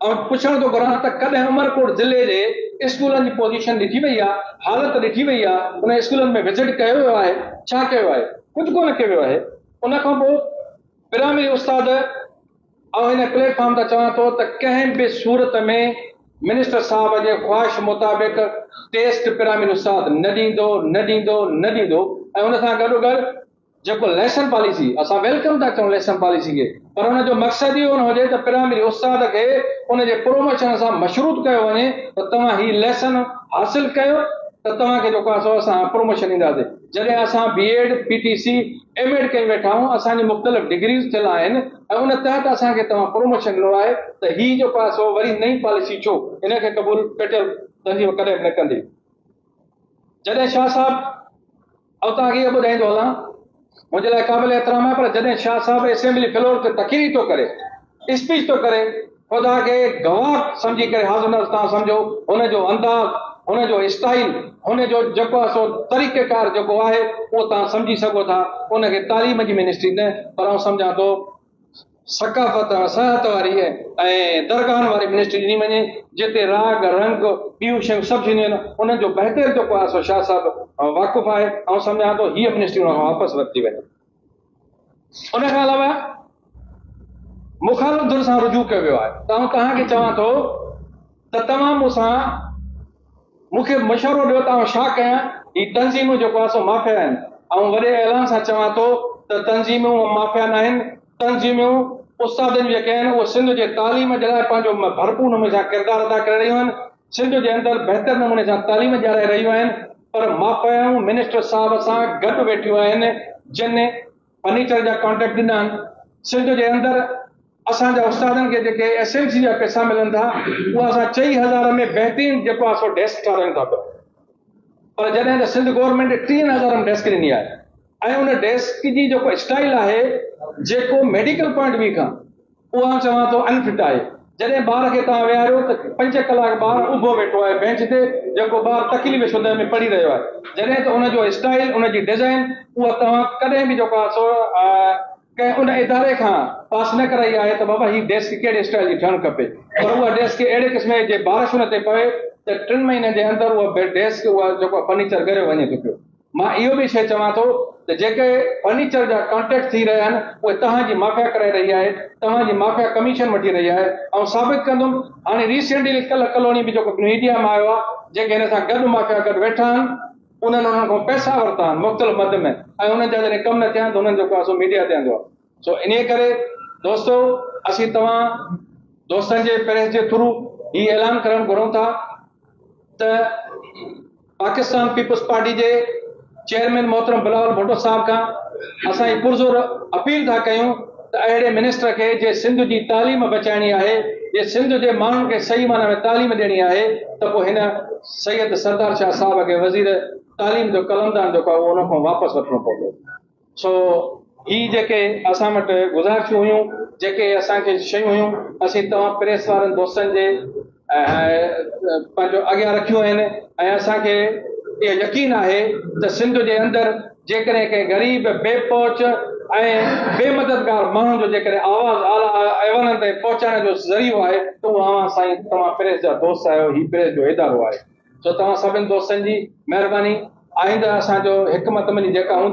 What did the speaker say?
آئون پڇڻ ٿو گهران ته ڪڏهن عمرڪوٽ ضلعي جي اسڪولن جي پوزيشن ڏٺي وئي آهي، حالت ڏٺي وئي آهي، انهن اسڪولن ۾ وزٽ ڪيو ويو آهي، ڇا ڪيو آهي؟ ڪجهه ڪونه ڪيو ويو آهي. ان کان پوء پرائمري استاد آئون هن پليٽ فارم تان چوان ٿو ته ڪنهن به صورت ۾ منسٽر صاحب جي خواهش مطابق ٽيسٽ پرائمري استاد نه ڏيندو، نه ڏيندو، نه ڏيندو ۽ ان سان گڏوگڏ جيڪو ليسن پاليسي، اسان ويلڪم ٿا ڪيون ليسن پاليسي کي، پر ان جو مقصد اهو نه هجي ته پرائمري استاد کي ان جي پروموشن سان مشروط ڪيو وڃي ته توهان هي ليسن حاصل ڪيو ته توهان کي جيڪو آهي سو اسان پروموشن ڏينداسين. جڏهن اسان B Ed, P T C, M Ed ڪئي ويٺا آهيون، اسان جون مختلف ڊگريز ٿيل آهن ۽ ان تحت اسان کي توهان پروموشن ڏنو آهي ته هي جيڪو آهي سو وري نئين پاليسي ڇو ان کي قبول فيڊرل تنظيم ڪڏهن به نه ڪندي. جڏهن شاهه صاحب اوتان اڳي ٻڌائيندو هلان منهنجي لاء قابل احترام آهي پر جڏهن شاهه صاحب اسيمبلي فلور تي تقرير ٿو ڪري اسپيچ ٿو ڪري خدا کي گواهه سمجهي ڪري حاضر نظر تان سمجهو هن جو انداز هن جو اسٽائل هن جو جيڪو سو طريقه ڪار جيڪو آهي اهو تان سمجهي سگهو ٿا ان کي تعليم جي منسٽري نه پر آئون سمجهان ٿو ثقافت ۽ سياحت واري ۽ درگاهن واري منسٽري ڏني وڃي، جتي راڳ، رنگ، ٻيون شيون سڀ ٿينديون آهن، انهن جو بهتر جو ڪو آهي سو شاهه صاحب واقف آهي، آئون سمجهان ٿو هيء منسٽري ان کان واپس ورتي وڃي. ان کان علاوه مخالف ڌر سان رجوع ڪيو ويو آهي ته آئون توهان کي چوان ٿو، ته توهان مون سان مون کي مشورو ڏيو ته آئون ڇا ڪيان؟ هي تنظيمون جيڪو آهن سو مافيا آهن. آئون وڏي اعلان سان چوان ٿو ته تنظيمون مافيا ناهن. تنظيمون استادن جيڪي آهن اهي سنڌ جي تعليم جي لاء پنهنجو ڀرپور نموني سان ڪردار ادا ڪري رهيون آهن. سنڌ جي اندر بهتر نموني سان تعليم ڏيارائي رهيون آهن پر مافيائون منسٽر صاحب سان گڏ ويٺيون آهن جن فرنيچر جا ڪانٽريڪٽ ڏنا آهن سنڌ جي اندر اسان جا استادن کي جيڪي ايس ايم سي جا پئسا ملن ٿا اها اسان چئي هزار ۾ بهترين جيڪو آهي سو ڊيسڪ ٺارايون ٿا پيا پر جڏهن ته سنڌ گورنمينٽ ٽيهن هزار ۾ ڊيسڪ ڏني آهي ۽ ان ڊيسڪ جي جيڪو اسٽائل آهي جيڪو ميڊيڪل پوائنٽ ويو کان اهو آئون چوان ٿو ان فٽ آهي. جڏهن ٻار کي توهان ويهاريو ته پنج ڪلاڪ ٻار اڀو ويٺو آهي بينچ تي جيڪو ٻار تڪليف شده ۾ پڙهي رهيو آهي جڏهن ته ان جو اسٽائيل ان جي ڊزائين اها توهان ڪڏهن به جيڪو آهي ڪنهن ان اداري کان پاس نه ڪرائي آهي ته بابا هي ڊيسڪ ڪهڙي اسٽائيل جي ٺهڻ کپي پر اها ڊيسڪ اهڙي قسم جي جي بارش ان تي پوي ته ٽن مهينن جي اندر اها ڊيسڪ اها جيڪو فرنيچر ڳريو وڃي ٿو پيو. مان اهو به شيء چوان ٿو ته جيڪي فرنيچر جا ڪانٽريڪٽ ٿي رهيا آهن اهي توهان جي مافيا ڪرائي رهي آهي، توهان جي مافيا ڪميشن وٺي رهي آهي، آئون ثابت ڪندم، هاڻي ريسينٽلي ڪلهه ڪلهوڙي ۾ جيڪو ميڊيا ۾ آيو آهي جيڪي هن سان گڏ مافيا گڏ ويٺا آهن انهن انهن کان پئسا ورتا آهن مختلف مد ۾ ۽ انهن جا جڏهن ڪم نه ٿيا آهن ته انهن جو ڪاسو ميڊيا تي آندو آهي. سو انهيء ڪري دوستو اسين توهان دوستن جي پريس جي ٿرو هي اعلان ڪرڻ گهرون ٿا ته پاڪستان پيپلز پارٽي جي چيئرمين محترم بلاول ڀٽو صاحب کان اسان هي پرزور اپيل ٿا ڪيون ته اهڙي منسٽر کي جي سنڌ جي تعليم بچائڻي آهي جي سنڌ جي ماڻهن کي صحيح معنيٰ ۾ تعليم ڏيڻي آهي ته پوء هن سيد سردار شاهه صاحب کي وزير تعليم جو قلمدان جيڪو آهي اهو ان کان واپس وٺڻو پوندو. سو هي جيڪي اسان وٽ گذارشون هيون، جيڪي اسان کي شيون هيون، اسين توهان پريس وارن دوستن جي پنهنجو اڳيان رکيون آهن ۽ اسان کي اهو يقين آهي ته سنڌ جي اندر جيڪڏهن ڪنهن غريب، بي پهچ ۽ بي مددگار ماڻهو جو جيڪڏهن آواز اعليٰ ايوانن تائين پهچائڻ جو ذريعو آهي ته اهو اوهان سائين توهان پريس جا دوست آهيو، هي پريس جو ادارو آهي. سو توهان سڀن دوستن جي مهرباني آئنده اسان جو هڪ متمني جيڪا هوندي.